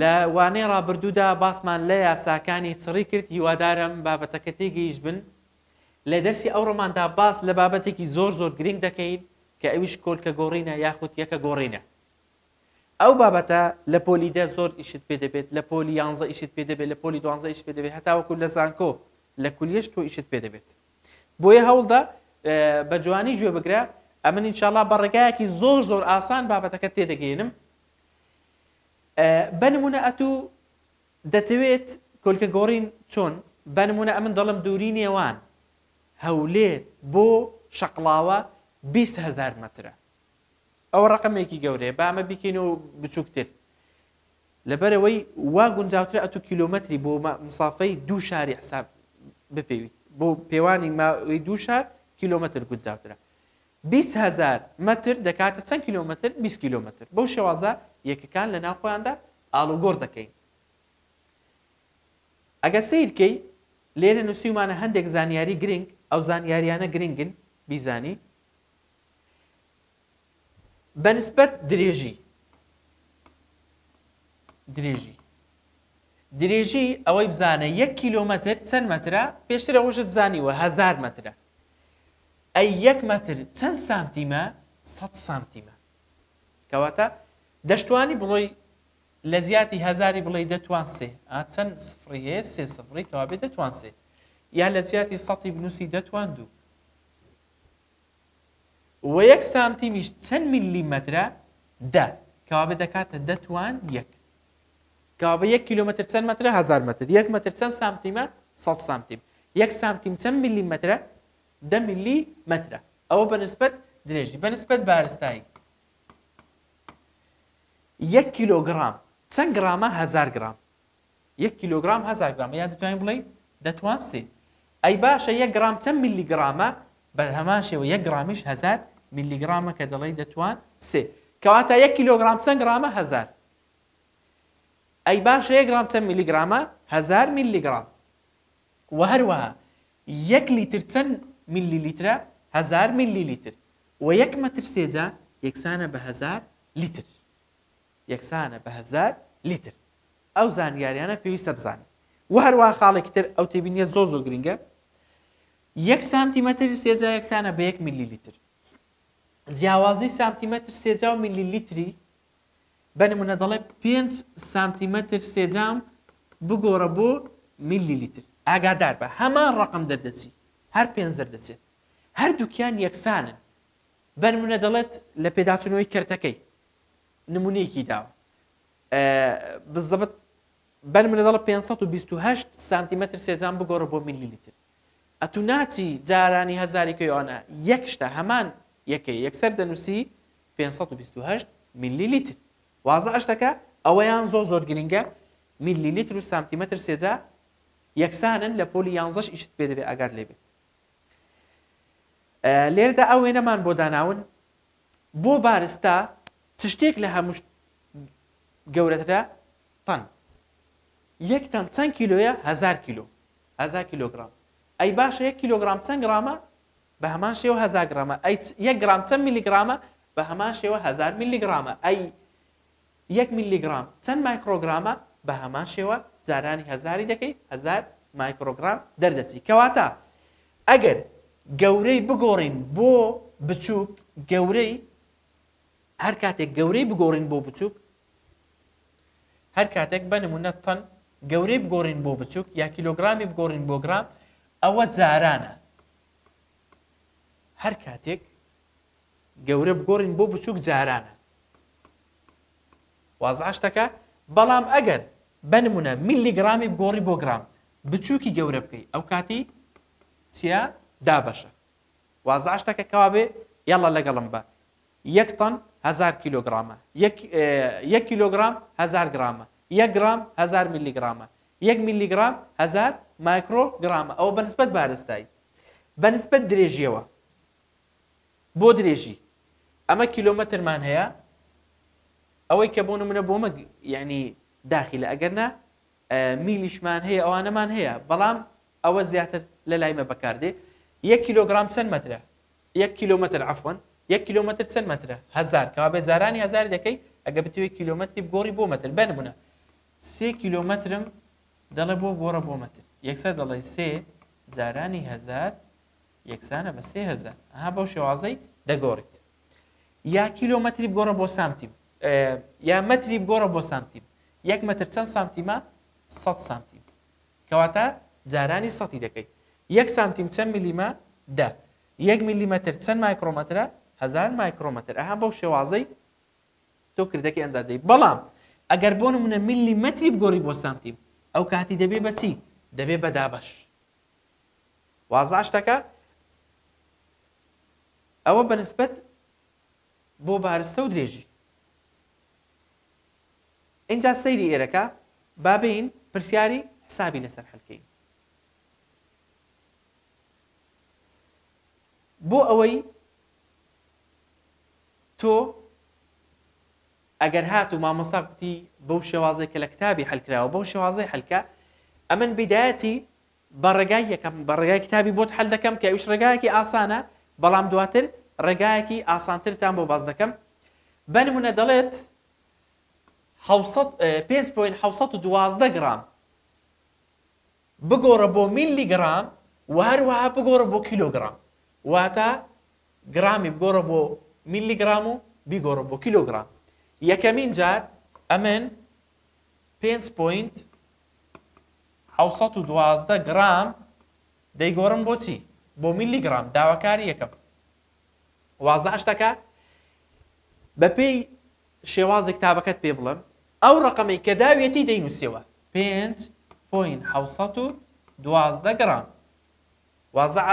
لە وانەی ڕابردوودا باسمان لە یاساکانی چڕی کرد هیوادارم بابەتەکە تێگەیشتبن. لە دەرسی ئەو ڕۆماندا باس لە بابەتێکی زۆر زۆر گرینگ دەکەین کە ئەویش کۆلکە گۆڕینە یاخود یەکە گۆڕینە. ئەو بابەتە لە پۆلی دە زۆر ئیشت پێ دەبێت، لە پۆلی یانزە ئیشت پێ دەبێت، لە پۆلی دوانزە ئیشت پێ دەبێت هەتاوەکو لە زانکۆ لە کولیەش تۆ ئیشت پێ دەبێت. بۆیە هەوڵدە بە جوانی گوێ بگرە ئەمن ان شاء اللە بە ڕێگایەکی زۆر زۆر ئاسان بابەتەکەت تێ دەگەینم بە نمونە ئەتوو دەتەوێت کۆلکە گۆڕین چۆن بە نمونە ئەمن دەڵم دووری نێوان هەولێر بۆ شەقڵاوە هزار مەترە ئەوە ڕقمێکی گەورەیە بامە بیکەین و بچووکتر لەبەرەوەی وا گونجاوترە ئەتو کیلومتری بۆ مسافەی دوو شاری حساب بپێویت بۆ پێوانی ماوەی دوو شار کیلومتر گونجاوترە بیست هەزار مەتر دەکاتە چەند کیلۆمەتر؟ بیست کیلۆمەتر. بەو شێوازە یەکەکان لەناو خۆیاندا ئاڵوگۆڕ دەکەین. ئەگەر سەیر کەی، لێرە نووسیومانە هەندێک زانیاری گرنگ، ئەو زانیاریانە گرنگن بیزانی. بە نسبەت درێژی، درێژی، درێژی ئەوەی بزانە یەک کیلۆمەتر چەند مەترە، پێشتر ئەوەشت زانیوە هەزار مەترە. ئەی یەک مەتر چەند سانتیمە؟ سەد سانتیمە. کەواتە دەشتوانی بڵۆی لە جیاتی هەزاری بڵێی دەتوان سێ ئا چەند سفڕی هەیە سێ سفڕی کەوابێ دەتوان سێ یا لە جیاتی سەتی بنووسی دەتوان دوو و یەک سانتیمیش چەند ملی مەترە دە کەوابێ دەکاتە دەتوان یەک کابە یەک کیلۆمەتر چەند مەترە هزار مەتر یەک مەتر چەند سانتیمە سەد سانتیم یەک سانتیم چەند ملی مەترە دە ملی مەترە ئەوە بەنسبەت درێژی بەنسبەت بارستایی یەک کیلۆگرام چەند گرامە هزار گرام یەک کیلۆگرام هزار گرام یان دەتوانین بڵێ دەتوان سێ ئەی باشە یەک گرام چەند ملی گرامە بە هەمان شێوە یەک گرامیش هزار ملی گرامە کە دەڵی دەتوان سێ کەواتە یەک کیلۆگرام چەند گرامە هزار ئەی باشە یەک گرام چەند میلیگرامە؟ هەزار میلیگرام. وە هەروەها یەک لیتر چەند میلی لیترە؟ هەزار میلی لیتر. وە یەک مەتر سێجا یەکسانە بە هەزار لیتر. یەکسانە بە هەزار لیتر. ئەو زانیاریانە پێویستە بزانین. وە هەروەها خاڵێکی تر ئەو تێبینیە زۆر زۆر گرینگە یەک سانتیمەتر سێجا یەکسانە بە یەک میلی لیتر. جیاوازی سانتیمەتر سێجا و میلی لیتری بە نمونە دەڵێ پێنج سانتیمەتر سێجام بگۆڕە بۆ میلی لیتر ئاگادار بە هەمان ڕقم دەردەچی هەر پێنج دەردەچێت هەردووکیان یەکسانن بە نمونە دەڵێت لە پێداچنەوەی کەرتەکەی نمونەیەکی داوە بزەبت بەن منە دەڵە 528 سانتیمەتر سێجان بگۆڕە بۆ میلی لیتر ئەتو ناچی جارانی هەزاری کەیوانە یەک شتە هەمان یەکەی یەکسەر دەنووسی پێنج سەد و بیست و هەشت میللی لیتر وازە ئەشتەکە ئەوەیان زۆر زۆر گرینگە میللی لیتر و سانتیمەتر سێجا یەکسانن لە پۆلی یانزەش ئیشت پێ دەبێ ئاگات لێ بێت لێردا ئەو وێنەمان بۆ داناون بۆ بارستا چ شتێک لە هەموو گەورەترە تەن یەک تەن چەند کیلۆیە هزار کیلۆ هزار کیلۆگرام ئەی باشە یەک کیلۆگرام چەند گرامە بە هەمان شێوە هەزار گڕامە ئەی چ یەک گڕام چەند میلیگڕامە؟ بە هەمان شێوە هەزار میلیگڕامە ئەی یەک میلیگڕام چەند مایکڕۆگڕامە؟ بە هەمان شێوە جارانی هەزاری دەکەی هەزار مایکڕۆگڕام دەردەچی کەواتە ئەگەر گەورەی بگۆڕین بۆ بچووک گەورەی هەر کاتێک گەورەی بگۆڕین بۆ بچووک هەر کاتێک بە نمونە تەن گەورەی بگۆڕین بۆ بچووک یا کیلۆگرامی بگۆڕین بۆ گرام ئەوە جارانە هەر کاتێک گەورە بگۆڕین بۆ بچووک جارانە وازعە شتەکە بەڵام ئەگەر بنمونە میلی گرامی بگۆڕی بۆ گرام بچووکی گەورە بکەی ئەو کاتی چیا دابەشە وازعە شتەکە کەوابێ یاڵە لەگەڵم بە یەک تەن هەزار کیلۆگرامە. یەک یەک کیلۆگرام هەزار گرامە. یەک گرام هەزار میلیگرامە. یەک میلیگرام هەزار مایکرۆ گرامە. ئەوە بە نسبەت بارستایی. بە نسبەت درێژییەوە بۆ درێژی ئەمە کیلۆمەترمان هەیە ئەوەی کە بۆ نمونە بۆ مەگ یعنی داخلە ئەگەر نا میلیشمان هەیە ئەوانەمان هەیە بەڵام ئەوە زیاتر لە لایمە بەکاردێ یەک کیلۆگرام چەند مەترە یەک کیلۆمەتر عەفوەن یەک کیلۆمەتر چەند مەترە هەزار کەوابێ جارانی هەزاری دەکەی ئەگەر بتەوێ کیلۆمەتری بگۆڕی بۆ مەتر بە نمونە سێ کیلۆمەترم دەڵێ بۆ گۆڕە بۆ مەتر یەکسەر دەڵێی سێ جارانی هەزار یەکسانە بە سێ هەزار ئەها بەو شێوازەی دەگۆڕیت یا کیلۆمەتری بگۆڕە بۆ سانتیم یا مەتری بگۆڕە بۆ سانتیم یەک مەتر چەند سانتیمە 100 سانتیم کەواتە جارانی سەتی دەکەی. یەک سانتیم چەند ملیمە؟ دە. یەک ملیمەتر چەند مایکڕۆمەترە؟ هەزار مایکڕۆمەتر. ئەها بەو شێوازەی تۆ کردەکەی ئەنجام دەی. بەڵام ئەگەر بۆ نموونە ملیمەتری بگۆڕی بۆ سانتیم، ئەو کاتی دەبێ بە چی؟ دەبێ بە دابەش. وازە شتەکە؟ ئەوە بە نسبەت بۆ بارستە و درێژی. ئینجا سەیری ئێرەکە با بێین پرسیاری حسابی لەسەر حل کەین بۆ ئەوەی تۆ ئەگەر هات و مامۆستا کوتی بەو شێوازێک کە لە کتابی حلکراوە بەو شێوازی حلکە ئەمن بیدایەتی بە ڕێگای یەکەم بە ڕێگای کتابی بۆت حل دەکەم کە ئەوش ڕێگایەکی ئاسانە بەڵام دواتر ڕێگایەکی ئاسانترتان بۆ باز دەکەم بەنمونە دەڵێت پێنج پۆینت حەوت سەد و دوازدە گڕام بگۆڕە بۆ میلی گڕام و هەروەها بگۆڕە بۆ کیلۆگرام واتە گرامی بگۆڕە بۆ میلی گرام و بیگۆڕە بۆ کیلۆگرام یەکەمین جار ئەمن پێنج پۆینت حەوت و دوازدە گرام دەیگۆڕم بۆچی بۆ میلی گرام داواکاری یەکەم وازعش دەکا بە پێی شێوازی کتابەکەت پێ بڵێم ئەو ڕقەمەی کە داویەتی دەینووسەوە پێنج پوین حوسەت و دوازدە گرام وازع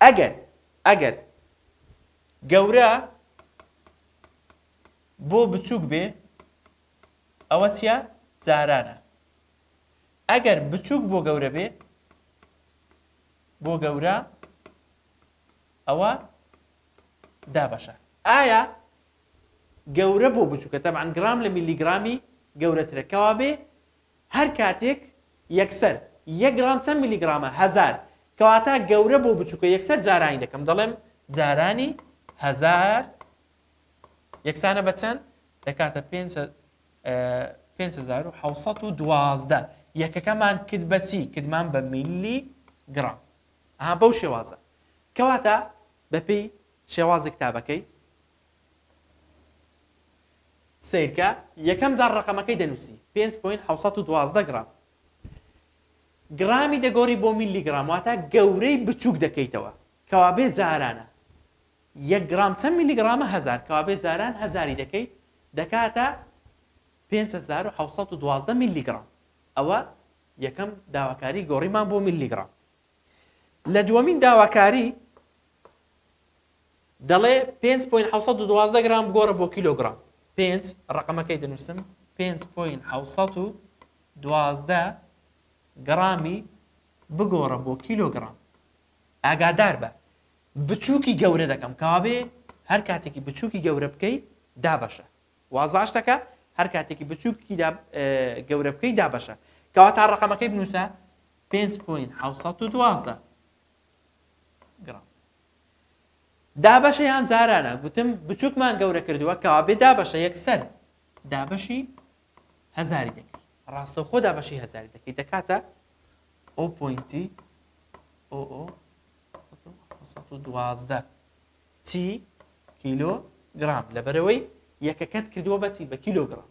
ئەگەر ئەگەر گەورە بۆ بچووک بێ ئەوە چیە جارانە ئەگەر بچووک بۆ گەورە بێ بۆ گەورە ئەوە دابەشە ئایا گەورە بۆ بچووکە تەبان گرام لە میلیگرامی گەورەترە کەوابێ هەر کاتێک یەکسەر یە گرام چەند میلیگرامە هزار کەواتە گەورە بۆ بچووکە یەکسەر جارانی دەکەم دەڵێم جارانی هزار یەکسانە بە چەند دەکاتە پێ 1970 یەکەکەمان کرد بەچی کردمان بە میلی گرام ئەها بەو شێوازە کەواتە بەپێی شێوازی کتابەکەی سەیرکە یەکەم جار ڕقەمەکەی دەنووسی پێنج پوین حەوت سەد و دوازدە گڕام گڕامی دەگۆری بۆ میلی گڕام واتە گەورەی بچووک دەکەیتەوە کەوابێ جارانە یەک گڕام چەند میلی گڕامە هەزار کەوابێ جاران هەزاری دەکەیت دەکاتە پێنج هەزار و حەوت سەد و دوازدە میلی گڕام ئەوە یەکەم داواکاری گۆڕیمان بۆ میللیگڕام لە دووەمین داواکاری دەڵێ 5.712 گرام بگۆڕە بۆ کیلۆگرام 5 ڕقمەکەی دەنووسم 5.712 گرامی بگۆڕە بۆ کیلۆگرام ئاگادار بە بچووکی گەورە دەکەم کاوێ هەر کاتێکی بچووکی گەورە بکەی دابەشە وازاش دەکا هەر کاتێکی بچوک کی دا گەورە بکەی دابەشە کەواتا ڕقەمەکەی بنووسە 5.712 گرام دابەشیان جارانە گوتم بچووکمان گەورە کردووە کەوا بێ دابەشە یەکسەر دابەشی هەزاری دەکەی ڕاستە خۆ دابەشی هەزاری دەکەی دەکاتە ئەو پوینتی ئۆ ئۆ دوازدە چی کیلۆ گڕام لەبەرئەوەی یەکەکەت کردووە بە چی بە کیلۆ گڕام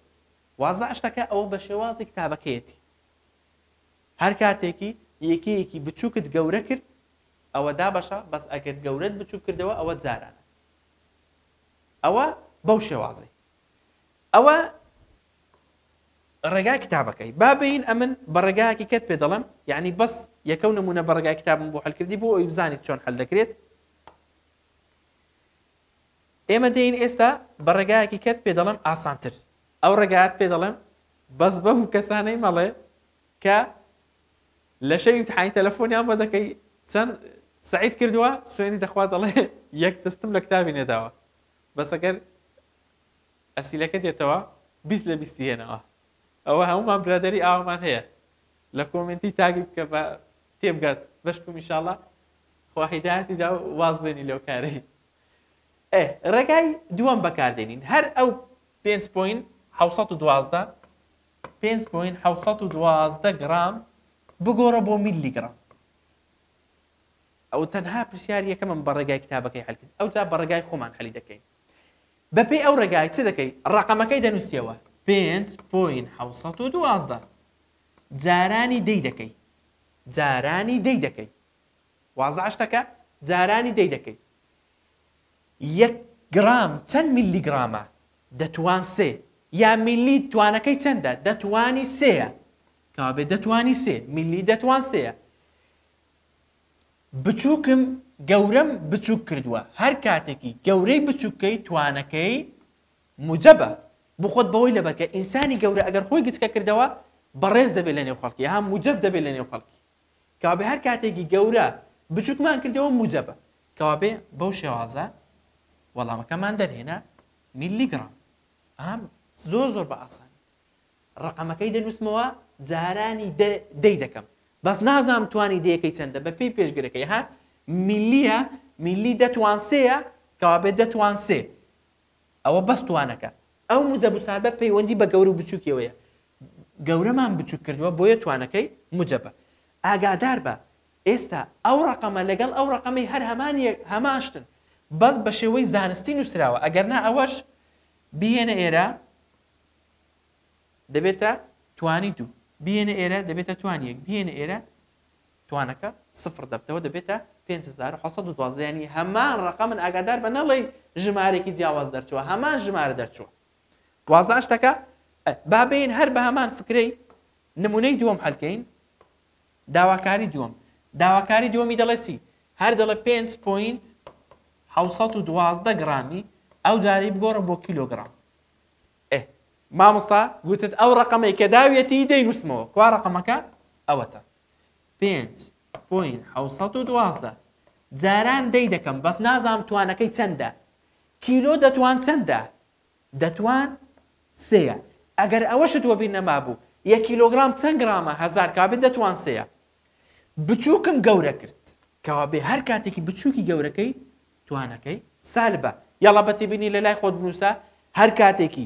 وازە شتەکە ئەوە بە شێوازی کتابەکەیەتی هەر کاتێکی یەکەیەکی بچووکت گەورە کرد ئەوە دابەشە بەس ئەگەر گەورەت بچووک کردەوە ئەوە جارانە ئەوە بەو شێوازەی ئەوە ڕێگای کتابەکەی با بین ئەمن بە ڕێگایەکی کەت پێ دەڵم یعنی بەس یەکەو نمونە بە ڕێگای کتابم بۆ هەلکردی بۆ ئەوی بزانیت چۆن هەل دەکرێت ئێمە دێین ئێستا بە ڕێگایەکی کەت پێ دەڵێم ئاسانتر ئەو ڕێگات پێ دەڵێم بەس بەم و کەسانەی مەڵێ کە لە شەوی امتحانی تەلەفۆنیان بۆ دەکەی چەند سعید کردووە سوێنی دەخوا دەڵێ یەک دەستم لە کتابی نێداوە بەس ئەگەر ئەسیلەکە دێتەوە بیست لە بیستی هێنەوە ئەوە هەمومان برادری ئاوامان هەیە لە کۆمنتی تاگی بکە بە تێبگات بەشکم ئیشاڵا خوا هیدایەتی دا و واز بێنی لەو کارەی ئێ ڕێگای دووەم بەکاردێنین هەر ئەو پێنج پۆین حوسەت و دوازدە پێنج پۆین حوسەت و دوازدە گرام بگۆڕە بۆ میلی گرام ئەو تەنها پرسیار یەکەمم بە ڕێگای کتابەکەی حلکرد ئەو جا بە ڕێگای خۆمان حەلی دەکەین بەپێی ئەو ڕێگای چ دەکەی ڕقەمەکەی دەنووسیەوە پێنج پۆین حوسەت و دوازدە جارانی دەی دەکەی جارانی دەی دەکەی وازە شتەکە جارانی دەی دەکەی یەک گڕام چەند میلی گڕامە دەتوان سێ یا میلی توانەکەی چەندە دەتوانی سێە کابێ دەتوانی سێ میلی دەتوان سێە بچووکم گەورەم بچووک کردووە هەر کاتێکی گەورەی بچووکەی توانەکەی موجەبە، بخۆت بەوەی لە بەکە، ئینسانی گەورە ئەگەر خۆی گچکە کردەوە، بەڕێز دەبێت لە نێو خەڵکی، ها موجەب دەبێت لە نێو خەڵکی. کەوابێ هەر کاتێکی گەورە بچوکمان کردەوە موجەبە. کەوابێ بەو شێوازە وەڵامەکەمان دەرهێنا، میللی گڕام. ها زۆر زۆر بە ئاسانی ڕەقەمەکەی دەنووسمەوە، جارانی دە، دەی دەکەم. بەس نازانم توانی دەیەکەی چەندە بە پێی پێشگرەکەی، ها میللییە، میللی دە توان سێیە، کەوابێ دە توان سێ. ئەوە بەس توانەکە. ئەو موجەب و سادە پەیوەندی بە گەورە و بچوکیەوەیە. گەورەمان بچوک کردوە بۆیە توانەکەی موجەبە. ئاگاداربە ئێستا ئەو ڕەقەمە لەگەڵ ئەو ڕەقەمەی هەر هەمان یەک هەمان شتن بەس بە شێوەی زانستی نوسراوە ئەگەر نا ئەوەش بیهێنە ئێرە دەبێتە توانی دوو بیهێنە ئێرە دەبێتە توانی یەک بیهێنە ئێرە توانەکە سفڕ دەبتەوە دەبێتە پێنج هەزار و حەوت سەد و دوازدە یانی هەمان ڕەقەمن ئاگادار بە نەڵێی ژمارەیەکی جیاواز دەرچووە هەمان ژمارە دەرچووە وازە ئەشتەکە با بێین هەر بە هەمان فکرەی نمونەی دووەم هەلکەین داواکاری دووەم داواکاری دووەمی دەڵێ چی هەر دەڵێ پێنج پوینت حەوسەد و دوازدە گڕامی ئەو جارەی بگۆڕە بۆ کیلۆگرام ئێ مامۆستا گوتت ئەو ڕقەمەی کە داویەتی دەینوسمەوە کوا ڕقەمەکە ئەوەتە پێنج پۆینت حەوت سەد و دوازدە جاران دەی دەکەم بەس نازانم توانەکەی چەندە کیلۆ دەتوان چەندە دەتوان سێیە ئەگەر ئەوەشت وەبیر نەمابوو یەک کیلۆگرام چەند گرامە هەزار کابێ دەتوان سێیە بچووکم گەورە کرد کەوا بێ هەر کاتێکی بچووکی گەورەکەی توانەکەی سالبە یاڵا بەتێبینی لەلای خۆت بنووسە هەر کاتێکی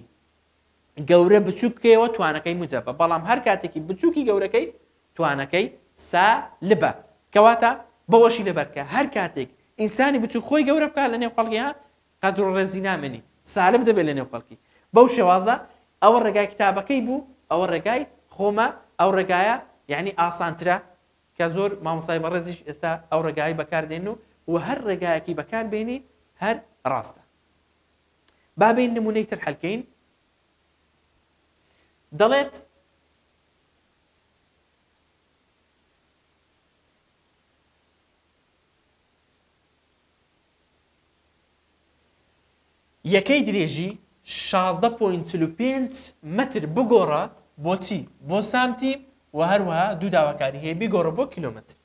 گەورە بچووک بکەیەوە توانەکەی موجەبە بەڵام هەر کاتێکی بچووکی گەورەکەی توانەکەی سالبە کەواتە بەوەشی لەبەرکە هەر کاتێک ئینسانی بچوو خۆی گەورە بکە لە نێو خەڵکی ها قەدر و ڕێزی نامێنی سالب دەبێت لە نێو خەڵکی بەو شێوازە ئەوە ڕێگای کتابەکەی بوو ئەوە ڕێگای خۆمە ئەو ڕێگایە یعنی ئاسانترە کە زۆر مامۆسای بەڕێزیش ئێستا ئەو ڕێگای بەکاردێن و و هەر ڕێگایەکی بەکاربێنی هەر ڕاستە با بێین نمونەی تر حەلکەین دەڵێت یەکەی درێژی 16.45 متر بگۆڕە بۆچی بۆ سانتیم و هەروەها دوو داواکاری هەیە بگۆڕە بۆ کیلومتر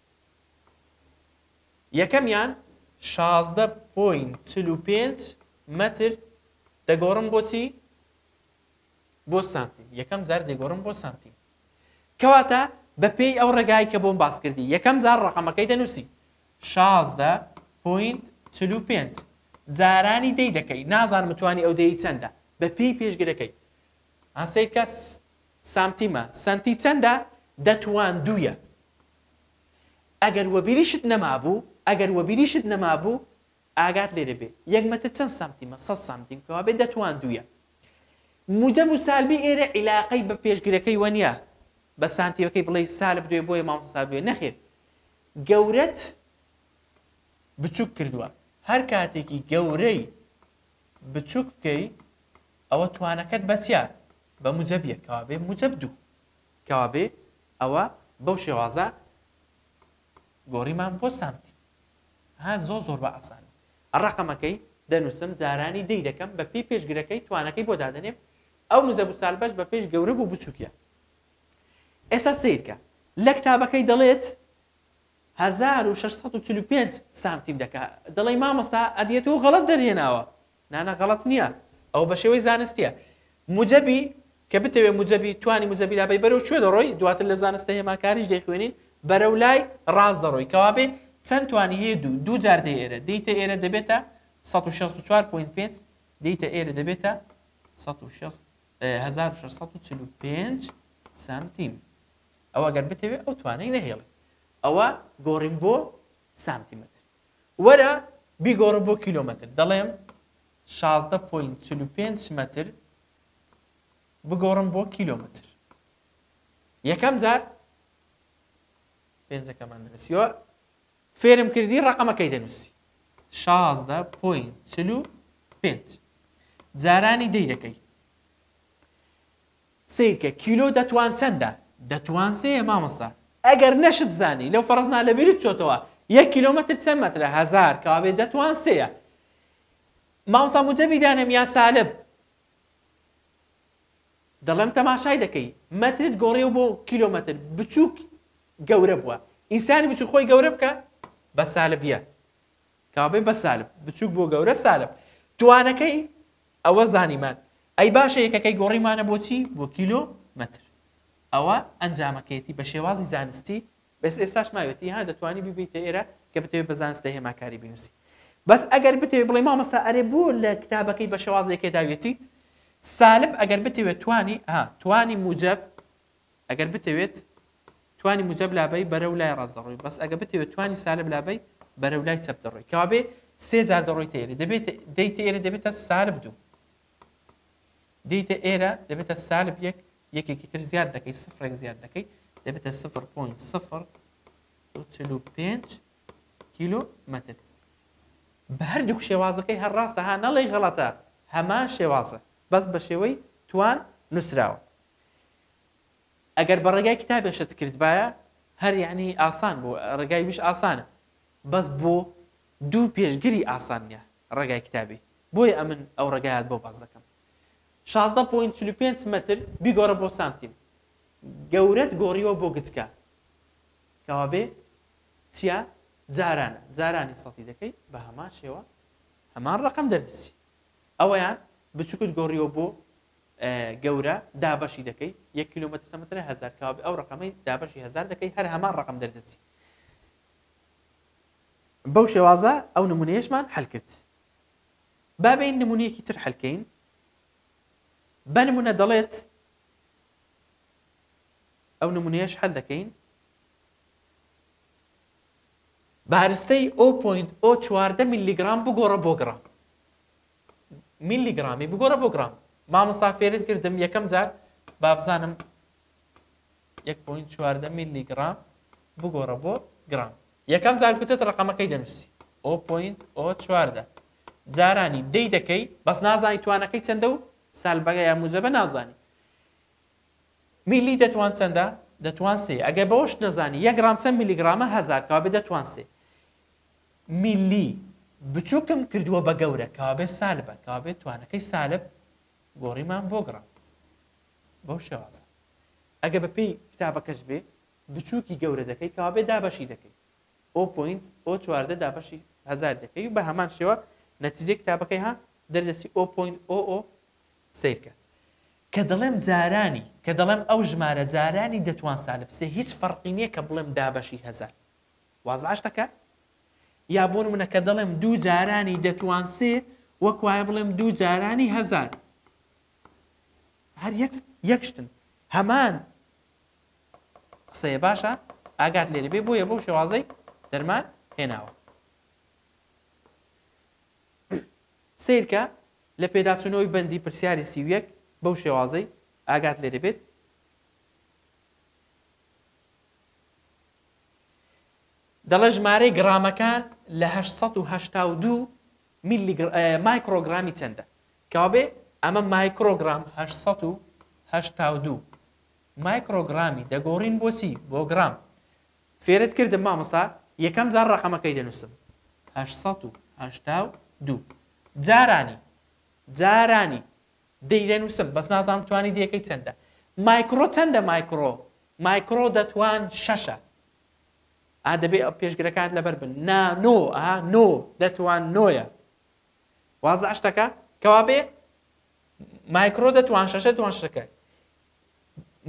یەکەمیان شازدە پۆینت چل و پێنج مەتر دەگۆڕم بۆ چی؟ بۆ سانتیم یەکەم جار دەگۆڕم بۆ سانتیم کەواتە بەپێی ئەو ڕێگای کە بۆم باس کردی یەکەم جار ڕقەمەکەی دەنووسی شازدە پۆینت چل و پێنج جارانی دەی دەکەی نازانم توانی ئەو دەی چەندە بەپێی پێشگرەکەی ئاسەیکە سانتیمە سانتی چەندە دەتوان دوویە ئەگەر وەبیریشت نەمابوو، ئەگەر وەبیریشت نەمابوو، ئاگات لێ دەبێ، یەک مەتر چەند سانتیمە؟ سەد سانتیم کەوابێ دەتواندوویە. موجەب و سالبی ئێرە عیلاقەی بە پێشگرەکەی وەنیە، بە سانتیمەکەی بڵێی سالب دوێ بۆیە مامۆستا سالب دوێ، نەخێر، گەورەت بچووک کردووە، هەر کاتێکی گەورەی بچووک بکەی، ئەوە توانەکەت بە چیە؟ بە موجەب یەک کەوابێ موجەب دوو. کەوابێ ئەوە بەو شێوازە گۆریمان بۆ سامت ها زۆر زۆر بە ئاسانی ڕەقەمەکەی دەنوسم جارانی دەی دەکەم بە پێی پێشگرەکەی توانەکەی بۆ دادەنێم ئەو موجەب و سالبەش بە پێش گەورە بوو بچووکە ئێستا سیرکە لە کتابەکەی دەڵێت هەزار و شەش سەد و چل و پێنج سانتیم دەکا دەڵێی مامۆستا ئەدیەتۆ غەڵەت دەرهێناوە نا نا غەڵەت نیە ئەوە بەشێوەی زانستیە موجەبی کە بتەوێ موجەبی توانی موجەبی لابەی بەرەو کوێ دەڕۆی دواتر لە زانستە هێماکاریش دەیخوێنین بەرەو لای ڕاست دەڕۆی کەوابێ چەند توانی هەیە دوو دوو جار دێ ئێرە دێیتە ئێرە دەبێتە سەد و شەست و چوار پۆینت پێنج دێیتە ئێرە دەبێتە سەد و شەست هەزار و شەش سەد و چل و پێنج سانتیم ئەوە گەر بتەوێ ئەو توانای نەهێڵی ئەوە گۆڕین بۆ سانتیمەتر وەرە بیگۆڕە بۆ کیلۆمەتر دەڵێم شازدە پۆینت چل و پێنج مەتر بگۆڕم بۆ کیلۆمەتر یەکەم جار پێنجەکەمان نووسیوە فێرم کردی ڕقەمەکەی دەنووسی شازدە پۆینت چل و پێنج جارانی دەی دەکەی سەیرکە کیلۆ دەتوان چەندە. دەتوان سێیە مامۆستا. ئەگەر نەشت زانی لەو فەڕز نا لەبیرت چۆتەوە یەک کیلۆمەتر چەند مەترە هەزار کەوابێ دەتوان سێیە مامۆستا موجەبی دانێم یا سالب دەڵێم تەماشای دەکەی مەترت گۆڕیەوە بۆ کیلۆمەتر بچووک گەورە بووە ئینسانی بچووک خۆی گەورە بکە بە سالبیە کابێ بە سالب بچووک بۆ گەورە سالب توانەکەی ئەوە زانیمان ئەی باشە یەکەکەی گۆڕیمانە بۆ چی؟ بۆ کیلۆ مەتر ئەوە ئەنجامەکەیەتی بە شێوازی زانستی بەس ئێستاش ماوێتی ها دەتوانی بیبەیتە ئێرە کە بتەوێ بە زانستە هێماکاری بینوسی بەس ئەگەر بتەوێ بڵێ مامۆستا ئەرێ بۆ لە کتابەکەی بە شێوازێکێ داویەتی سالب ئەگەر بتەوێ توانی ها توانی موجەب ئەگەر بتەوێت توانی موجەب لابەی بەرەو لای ڕاست دەڕۆی بەس ئەگە بتەوێت توانی سالب لابەی بەرەو لای چەپ دەڕۆی کەوابێ سێ جار دەڕۆیتە ئێرە دەبێت دەیتە ئێرە دەبێتە سالب دوو دەیتە ئێرە دەبێتە سالب یەک یەکێکی تر زیاد دەکەی سفرێک زیاد دەکەی دەبێتە سفر پوین سفر چل و پێنج کیلو متر بە هەردووک شێوازەکەی هەر ڕاستە ها نەڵی غەڵەتە هەمان شێوازە بەس بە شێوەی توان نووسراوە ئەگەر بە ڕێگای کتابێ شت کردبایە هەر یەعنی ئاسان بوو ڕێگای ویش ئاسانە بەس بۆ دوو پێشگری ئاسان نیە ڕێگای کتابی بۆیە ئەمن ئەو ڕێگایات بۆ باس دەکەم شازدە پۆینت چل و پێنج مەتر بیگۆڕە بۆ سانتیم گەورەت گۆڕیوە بۆ گچکە کەوابێ تیا جاران جارانی سەتی دەکەی بە هەمان شێوە هەمان ڕەقەم دەردەچی ئەوەیان بچوکت گۆڕیوە بۆ گەورە دابەشی دەکەی یەک کیلۆمەتر سەمترە هەزار کابێ ئەو ڕەقەمەی دابەشی هەزار دەکەی هەر هەمان ڕەقەم دەردەچی بەو شێوازە ئەو نمونەیەشمان حلکرد بابین نمونونیەکی تر حلکەین بە نمونە دەڵێت ئەو نمونەیەش حل دەکەین بارستەی 0.4 میلیگرام بگۆڕە بۆ گرام میلی گڕامی بگۆڕە بۆ گڕام مامۆستا فێرت کردم یەکەم جار بابزانم یەک پوین چواردە میلی گڕام بگۆڕە بۆ گڕام یەکەم جار کوتت ڕقەمەکەی دەنووسی ئۆ پوین ئۆ چواردە جارانی دەی دەکەی بەس نازانی توانەکەی چەندە و سالبەگە یا موجەبە نازانی میلی دەتوان چەندە دەتوان سێ ئەگەر بەوەش نەزانی یەک گرام چەند میلیگرامە هزار کابێ دەتوان سێ میللی، بچوکم کردوە بە گەورە کەوابێ سالبە کەوابێ توانەکەی سالب گۆڕیمان بۆ گڕە بەو شێوازە ئەگە بە پێی کتابەکەش بێ بچوکی گەورە دەکەی کەوابێ دابەشی دەکەی ئەو پوینت ئەو چواردە دابەشی هزار دەکەی و بە هەمان شێوە نەتیجەی کتابەکەی ها دەردەسی ئەو پوینت ئۆ ئۆ سیرکە کە دەڵێم جارانی کە دەڵێم ئەو ژمارە جارانی دەتوان سالب سێ هیچ فەرقی نییە کە بڵێم دابەشی هزار وازعش دەکات؟ یا بۆ نمونە کە دەڵێم دوو جارانی دەتوان سێ وەک وایە بڵێم دوو جارانی هەزار هەر یەک یەک شتن هەمان قسەیە باشە ئاگات لێرە بێ بۆیە بەو شێوازەی دەرمان هێناوە سیرکە لە پێداچوونەوەی بەندی پرسیاری سیویەک بەو شێوازەی ئاگات لێرە بێت دەڵێت ژمارەی گڕامەکان لە هەشت سەد و هەشتا و دوو مایکرۆگرامی چەندە کەوابێ ئەمە مایکرۆگرام هەشت سەد و هەشتا و دوو مایکرۆگرامی دەگۆڕین بۆچی بۆ گرام فێرت کردم مامۆستا یەکەم جار ڕقەمەکەی دەنووسم هەشت سەد و هەشتا و دوو جارانی جارانی دەی دەنوسم بەس نازانم توانی دەکەی چەندە مایکڕۆ چەندە مایکڕۆ مایکڕۆ دەتوان شەشە ئا دەبێ ئەو پێشگرەکانت لەبەر بن نا نۆ ئا نۆ دەتوان نۆیە واز عشتەکە کەوابێ مایکڕۆ دەتوان شەشە دوان شەکە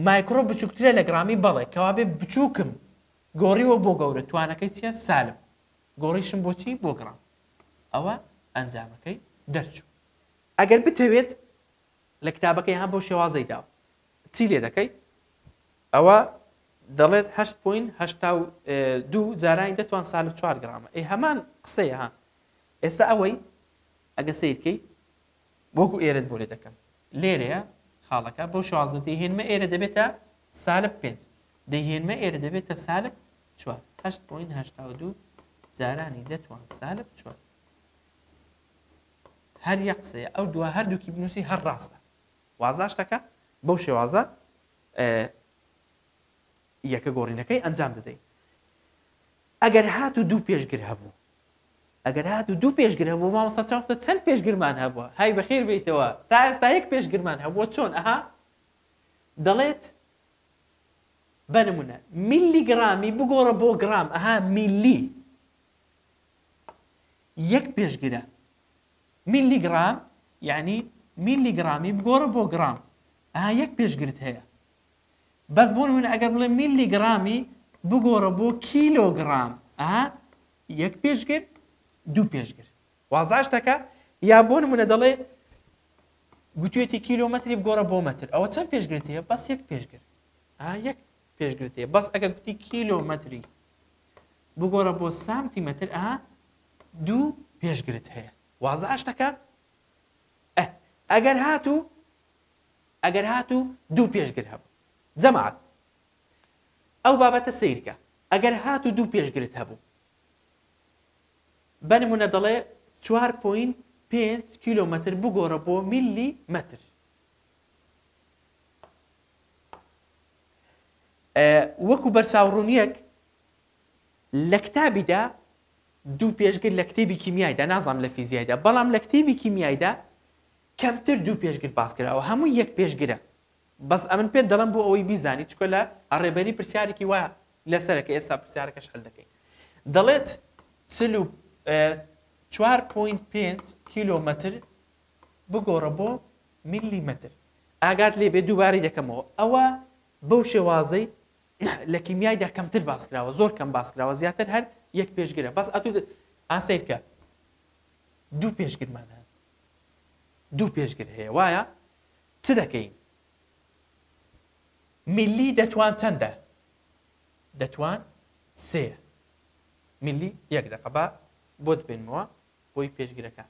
مایکڕۆ بچووکترە لە گرامی بەڵێ کەوابێ بچووکم گۆڕیوە بۆ گەورە توانەکەی چیە سالم گۆڕیشم بۆچی بۆ گڕام ئەوە ئەنجامەکەی دەرچوو ئەگەر بتەوێت لە کتابەکەی هەم بەو شێوازەی داوە چی لێ دەکەی؟ ئەوە دەڵێت هەشت پۆین هەشتا و دوو جارانی دەتوان سالب چوار گرامە ئەی هەمان قسەیە ها ئێستا ئەوەی ئەگە سیرکەی وەکو ئێرەت بۆ لێ دەکەم لێرەیە خاڵەکە بەو شوازە دەیهێنمە ئێرە دەبێتە سالب پێنج دەیهێنمە ئێرە دەبێتە سالب چوار هەشت پۆین هەشتا و دوو جارانی دەتوان سالب چوار هەر یەک قسەیە ئەو دوا هەردووکی بنووسی هەر ڕاستە وازاشتەکە بەو شێوازە یەکە گۆڕینەکەی ئەنجام دەدەین ئەگەر هات و دوو پێشگر هەبوو ئەگەر هات و دوو پێشگر هەبوو مامەسا چاوختە چەند پێشگرمان هەبووە های بەخیر بیتەوە تا ئێستا یەک پێشگرمان هەبووە چۆن ئەها دەڵێت بەنمونە میلی گرامی بگۆڕە بۆ گرام ئەها میلی یەک پێشگرە. میللی گڕام یەعنی میللی گڕامی بگۆڕە بۆ گڕام ئەها یەک پێشگرت هەیە. بەس بۆ نموونە ئەگەر بڵێم میللی گڕامی بگۆڕە بۆ کیلۆ گڕام ئەها یەک پێشگر دوو پێشگر. وازە ئەشتەکە؟ یا بۆ نموونە دەڵێ گوتویەتی کیلۆمەتری بگۆڕە بۆ مەتر ئەوە چەند پێشگرت هەیە بەس یەک پێشگر ئەها یەک پێش گرتێ بەس ئەگە گوتی کیلۆمەتری بگۆڕە بۆ سامتی مەتر ئەها دوو پێش گرت هەیە وازە ئاشتەکە ئەگەر هاتوو ئەگەر هاتوو دوو پێشگر هەبوو جەماعات ئەو بابەتە سیرکە ئەگەر هات و دوو پێشگرت هەبوو بەنمونە دەڵێ 4.5 کیلومتر بگۆڕە بۆ میلی متر وەکو بەرچاوڕوونیەک لە کتابیدا دوو پێشگر لە کتێبی کیمیایدا نازانم لە فیزیایدا بەڵام لە کتێبی کیمیایدا کەمتر دوو پێشگر باسکراوە هەموو یەک پێشگرە بەس ئەمن پێت دەڵم بۆ ئەوەی بیزانی چکە لە ڕێبەری پرسیارێکی وایە لەسەرەکە ئێستا پرسیارەکەش هەل دەکەین دەڵێت چل و چوار پوینت پێنج کیلۆمەتر بگۆڕە بۆ میلی مەتر ئاگات لێ بێ دووبارەی دەکەمەوە ئەوە بەو شێوازەی لە کیمیایدا کەمتر باس کراوە زۆر کەم باس کراوە زیاتر هەر یەک پێشگرە بەس ئەتو ئاسەیرکە دوو پێشگرمان هەن دوو پێشگر هەیە وایە چ دەکەین میلی دەتوان چەندە دەتوان سێ میلی یەک دەقە بە بۆت بێنمەوە بۆی پێشگرەکان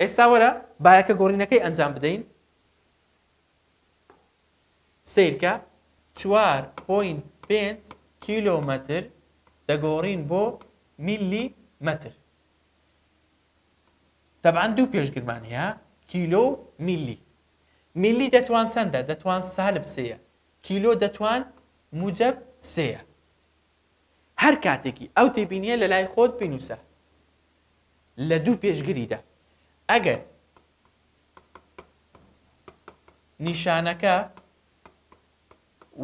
ئێستا وەرە بایەکە گۆڕینەکەی ئەنجام بدەین سیرکە چوار پوین پێنج کیلۆمەتر دەگۆڕین بۆ میلی مەتر تەبان دوو پێشگرمان هەیە کیلۆ میلی میلی دەتوان چەندە دەتوان سالب سەیە کیلۆ دەتوان موجب سەیە هەر کاتێکی ئەو تێبینیە لە لای خۆت بینوسە لە دوو پێشگریدا ئەگەر نیشانەکە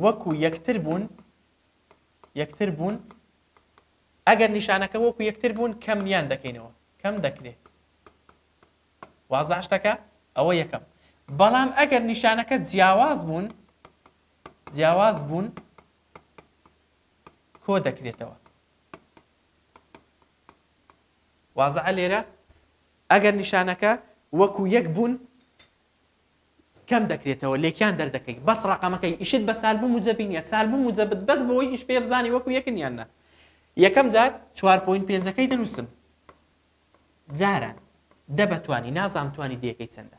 وەکو یەکتر بوون یەکتر بوون ئەگەر نیشانەکە وەکو یەکتر بوون کەمیان دەکەینەوە کەم دەکرێت وازاشتەکە ئەوە یەکەم بەڵام ئەگەر نیشانەکە جیاواز بوون جیاواز بوون کۆ دەکرێتەوە. وازعە لێرە ئەگەر نیشانەکە وەکو یەک بوون کەم دەکرێتەوە لێکیان دەردەکەی بەس ڕقەمەکەی ئیشت بە سالبوو موجەبین یا سالبوو موجەبت بەس بۆی ئیش پێ بزانانی وەکو یەکن یان نە یەکەم جار چوار پوین پێنجەکەی دەنووسم جاران دە بەتوانی نازام توانی دەکەی چەندە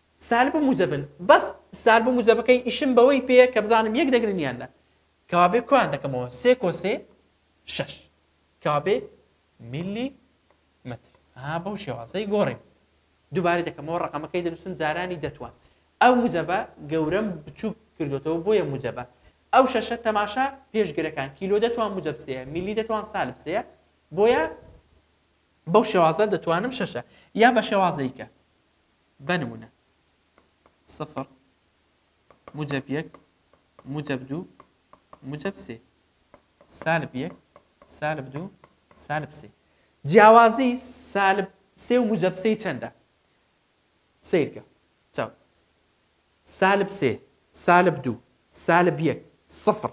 سالب و موجەبن بەس سالب و موجەبەکەی ئیشم بەوەی پێیە کە بزانم یەک دەگرن یان نا کەوابێ کۆیان دەکەمەوە سێ کۆ سێ شەش کەوابێ میلی مەتر ها بەو شێوازەی گۆڕیم دووبارەی دەکەمەوە ڕقەمەکەی دەنووسم جارانی دەتوان ئەو موجەبە گەورەم بچووک کردوێتەوە بۆیە موجەبە ئەو شەشە تەماشا پێشگرەکان کیلۆ دەتوان موجەب سەیە میلی دەتوان سالب سەیە بۆیە بەو شێوازە دەتوانم شەشە یا بە شێوازەیکە بەنمونە، سفر موجەب یەک موجەب دوو موجەب سێ، سالب یەک سالب دوو سالب سێ، جیاوازی سالب سێ و موجەب سێ چەندە؟ سەیرکە چاو سالب سێ سالب دوو سالب یەک سفر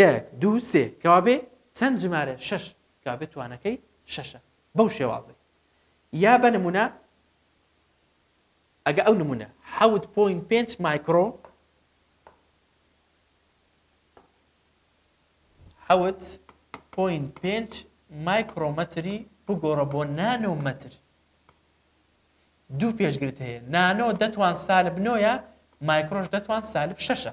یەک دوو سێ کەوابێ چەند ژمارە شەش کابێ توانەکەی شەشە بەو شێوازەی یا بە نمونە ئەگە ئەو نمونە حەوت پۆینت پێنج مایکرۆ حەوت پۆینت پێنج مایکرۆمەتری بگۆڕە بۆ نانۆ مەتر دوو پێشگرت هەیە نانۆ دەتوان سالب نۆە مایکرۆش دەتوان سالب شەشە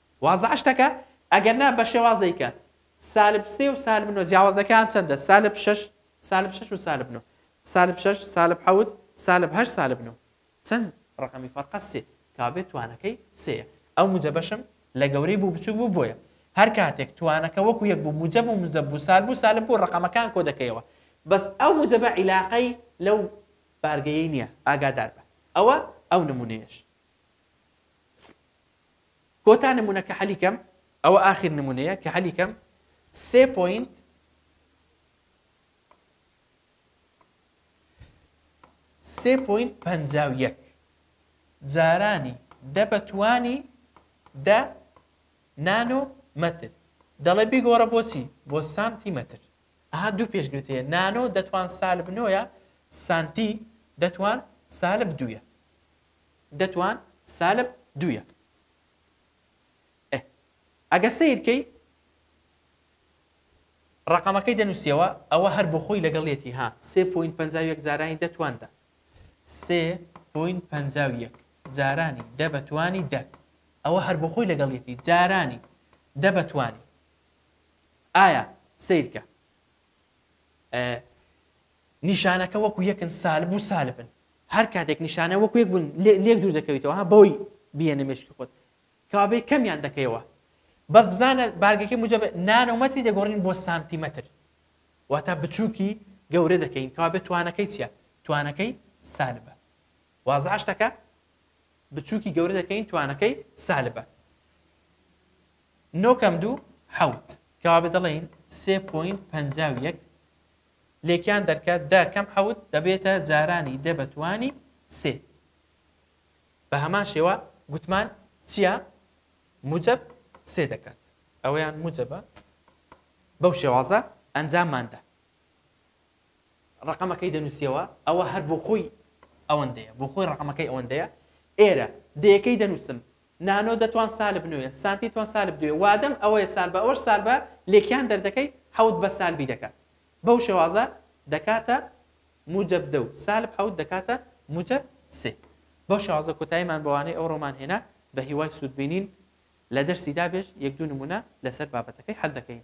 وازە عشتەکە ئەگەر نا بە شێوازەی کە سالب سێ و سالب نۆ جیاوازەکەیان چەندە سالب شەش سالب شەش و سالب نۆ سالب شەش سالب حەوت سالب هەشت سالب نۆ چەند ڕەقەمی فەرقە سێ کابێ توانەکەی سێیە ئەو موجەبەشم لە گەورەی بوو بچووک بوو بۆیە هەر کاتێک توانەکە وەکو یەک بوو موجەب و موجەب بوو سالب و سالب بوو ڕەقەمەکان کۆ دەکەیەوە بەس ئەو موجەبە عیلاقەی لەو بارگەیەی نییە ئاگادار بە ئەوە ئەو نموونەیەش کۆتا نمونە کە حەلی کەم ئەوە ئاخیر نمونەیە کە حەلی کەم سێ پۆینت سێ پۆینت پەنجا و یەک جارانی دە بە توانی دە نانۆ مەتر دەڵێ بیگۆڕە بۆچی بۆ سانتی مەتر ئەها دوو پێشگرت هەیە نانۆ دەتوان سالب نۆیە سانتی دەتوان سالب دوویە دەتوان سالب دویە ئه ئەگە سەیرکەی ڕەقەمەکەی دەنووسیەوە ئەوە هەر بۆ خۆی لەگەڵ یەتی ها سێ پوین پ یەک جارانی دەتوان دە سێ پوین پ یەک جارانی دە بەتوانی دە ئەوە هەر بۆ خۆی لەگەڵ یەتی جارانی دە بەتوانی ئایا سیرکە نیشانەکە وەکو یەکن سالب و سالبن. هەر کاتێک نیشانە وەکو یەک بن لێک دوور دەکەویتەوە ها بەوەی بیێنە مێشکی خۆت کەوابێ کەمیان دەکەیەوە بەس بزانە بارگەکەی موجەب نانۆمەتری دەگۆڕین بۆ سانتیمەتر واتا بچوکی گەورە دەکەین کەوابێ توانەکەی چیە توانەکەی سالبە وازە شتەکە بچوکی گەورە دەکەین توانەکەی سالبە نۆکەم دوو حوت کەوابێ دەڵێین سێ پوین پەنجا و یەک لێکیان دەرکە، دە کەم حەوت دەبێتە جارانی دە بە توانی سێ. بە هەمان شێوە گوتمان چیا موجەب سێ دەکات. ئەوەیان موجەبە. بەو شێوازە ئەنجاممان دا. ڕەقەمەکەی دەنووسیەوە، ئەوە هەر بۆ خۆی ئەوەندەیە. بۆ خۆی ڕەقەمەکەی ئەوەندەیە. ئێرە دەیەکەی دەنووسم، نانۆ دە توان سالب نۆیە سانتی توان سالب دوویە وادەم ئەوەیە سالب بە ئەوەش سالبە لێکیان دەردەکەی حەوت بە سالبی دەکات بەو شێوازە دەکاتە موجب دە و سالب حەوت دەکاتە موجب سێ بەو شێوازە کۆتاییمان بە وانەی ئەوڕۆمان هێنا بە هیوای سوود بینین لە دەرسی دابێژ یەک دوو نموونە لەسەر بابەتەکەی حەل دەکەین.